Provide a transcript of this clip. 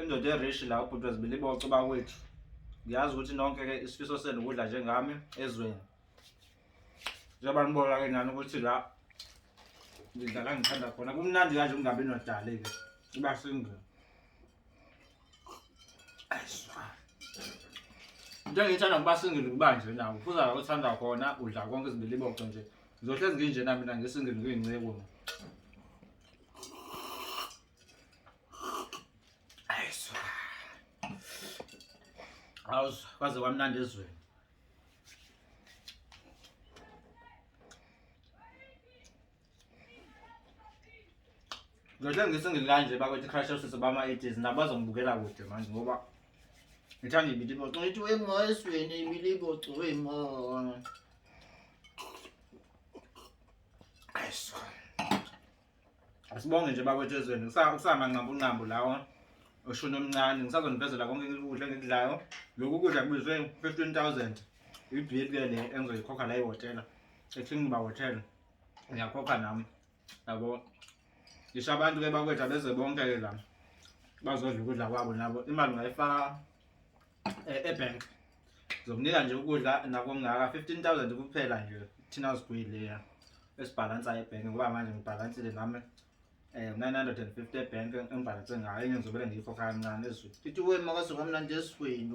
indoda erishi la ubhuti wezibili boco bakwethu ngiyazi ukuthi nonke ke isifiso senu ukudla njengami ezweni njengoba nibona ke nani ukuthi la ngidla la ngithanda khona kumnandi kanje kungabi nodali ke iba single into engiyithanda kuba single kuba nje nawo kuza uthanda khona udla konke izibili boco nje ngizohlezi nginjena mina ngisingile ngiyinceku awuzwa kwaze kwamnandi ezweni Ngithe ngisingile kanje bakwethu crash usisi bama idizi nabazo ngibukela kude manje ngoba ngithanda ibilibo ngithi wengozweni ibilibo cwema Ayiswa Asibonge nje bakwethu ezweni kusamanqambunqambu lawo oshuni omncane ngisazonivezela konke ukudla engikudlayo lokhu kudla kubizwe fifteen thousand ibill ke le engizoyikhokha la ihhotela eking ba hotel ngiyakhokha nami yabo ngisho abantu ke bakwethu abeze bonke ke la bazodla ukudla kwabo nabo imali ngayifaka eh, ebank zokunika nje ukudla nakungaka 15000 kuphela nje thina sigwile ya esibhalansa ebhenki ngoba manje ngibhalansile nami eh 950 ebhenki engibhalanse ngayo engizobele ngiyikho kancane ezweni ithi wema kwasuka mna nje esweni